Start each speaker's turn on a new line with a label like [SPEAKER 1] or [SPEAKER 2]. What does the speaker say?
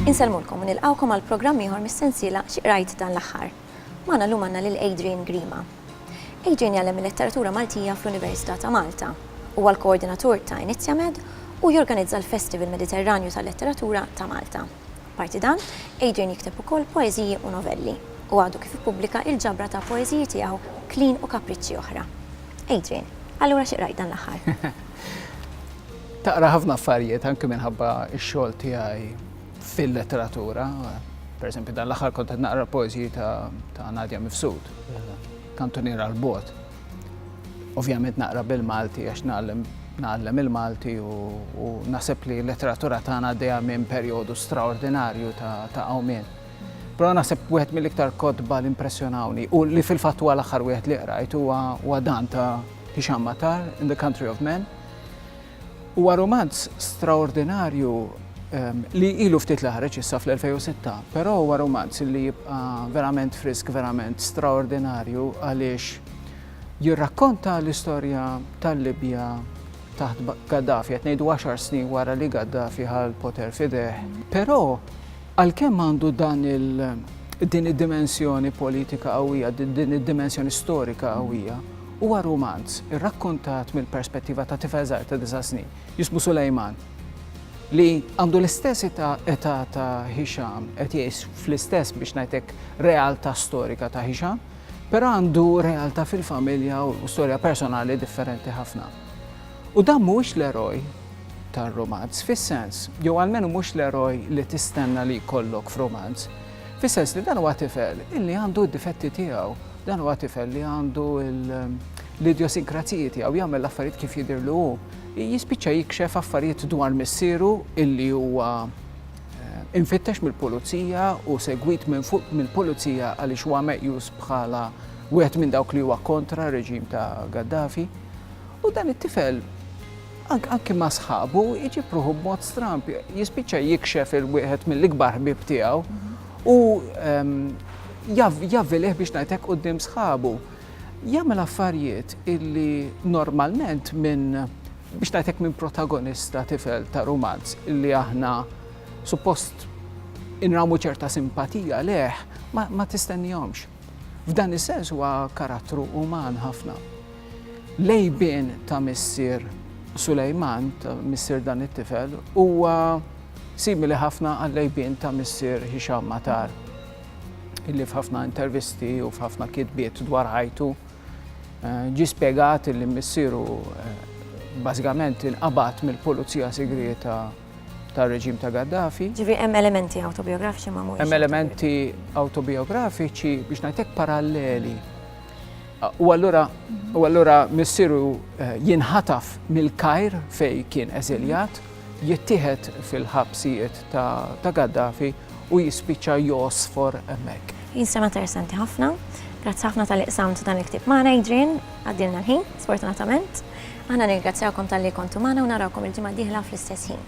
[SPEAKER 1] Insellmulkom u nilqgħukom għal programm ieħor mis-sensiela Xi Qrajt Dan l-Aħħar. Magħna llum għandna lil Adrian Grima. Adrian jgħallem il-Letteratura Maltija fl-Università ta' Malta. Huwa l-koordinatur ta' Inizjamed u jorganizza l-Festival Mediterranju tal-Letteratura ta' Malta. Apparti dan, Adrian jikteb ukoll poeżiji u novelli, u għadu kif ippubblika il-ġabra ta' poeżiji tiegħu Klin u Kapriċċi Oħra. Adrian, allura xi qrajt dan l-aħħar?
[SPEAKER 2] Taqra ħafna affarijiet anke minħabba x-xogħol tiegħi fil-letteratura. Pereżempju, dan l-aħħar kont qed naqra l-poeżiji ta' Nadia Mifsud, Kantuniera 'l Bogħod. Ovvjament naqra bil-Malti għax nagħlem nagħallem il-Malti u naħseb li l-letteratura tagħna għaddejja minn perjodu straordinarju ta' għawmien. Però naħseb wieħed mill-iktar kotba li impressjonawni u li fil-fatt huwa l-aħħar wieħed li qrajt huwa dan ta' Hisham Matar in the Country of Men. Huwa rumanz straordinarju li ilu ftit li ħareġ issa fl-2006, però huwa rumanz li jibqa' verament frisk, verament straordinarju għaliex jirrakkonta l-istorja tal-Libja taħt Gaddafi, qed ngħidu għaxar snin wara li Gaddafi ħa l-poter f'idejh. Però għalkemm għandu dan il din id-dimensjoni politika qawwija, din id-dimensjoni storika qawwija, Huwa rumanz irrakkontat mill-perspettiva ta' tifel żgħir ta' disa' snin, jismu Sulejman, li għandu l-istess età età ta' Hisham, qed jgħix fl-istess biex ngħid hekk realtà storika ta' Hisham, però għandu realtà fil-familja u storja personali differenti ħafna. U dan mhuwiex l-eroj tar-rumanz fis-sens, jew almenu mhux l-eroj li tistenna li jkollok f'rumanz. Fis-sens li dan huwa tifel illi għandu d-difetti tiegħu, dan huwa tifel li għandu l-idjosinkrazijiet tiegħu jagħmel l-affarijiet kif jidhirlu hu. Jispiċċa jikxef affarijiet dwar missieru illi huwa eh, infittex mill-pulizija u segwit minn fuq mill-pulizija għaliex huwa meqjus bħala wieħed minn dawk li huwa kontra reġim ta' Gaddafi. U dan it-tifel Anki ma' sħabu jġib ruħu b'mod stramb, jispiċċa jikxef il-wieħed mill-ikbar ħbieb tiegħu u javvilih biex ngħidlek quddiem sħabu. Jagħmel affarijiet illi normalment minn biex ngħidlek minn protagonista tifel ta' rumanz illi aħna suppost inramu ċerta simpatija leh ma tistennihomx. F'dan is-sens huwa karattru uman ħafna. L-għejbien ta' missier Sulejman, ta' missier dan it-tifel, huwa simili ħafna għall-għejbien ta' missier Hisham Matar, illi f'ħafna intervisti u f'ħafna kitbiet dwar ħajtu ġie spjegat illi missieru bażikament inqabad mill-pulizija sigrieta tar-reġim ta' Gaddafi. Ġifieri hemm elementi
[SPEAKER 1] awtobijografiċi ma mhumiex. Hemm elementi
[SPEAKER 2] awtobijografiċi biex ngħidlek paralleli. U allura u allura missieru eh, jinħataf mill-Kajr fej kien eżiljat, jittieħed fil-ħabsijiet ta' Gaddafi u jispiċċa josfor hemmhekk. Jinsema interessanti
[SPEAKER 1] ħafna. Grazzi ħafna tal-iqsamt dan il-ktib magħna Adrian, għaddilna l-ħin, sfortunatament. Aħna nirgrazzjawkom tal-li kontu magħna u narawkom il-ġimgħa diħla fl-istess ħin.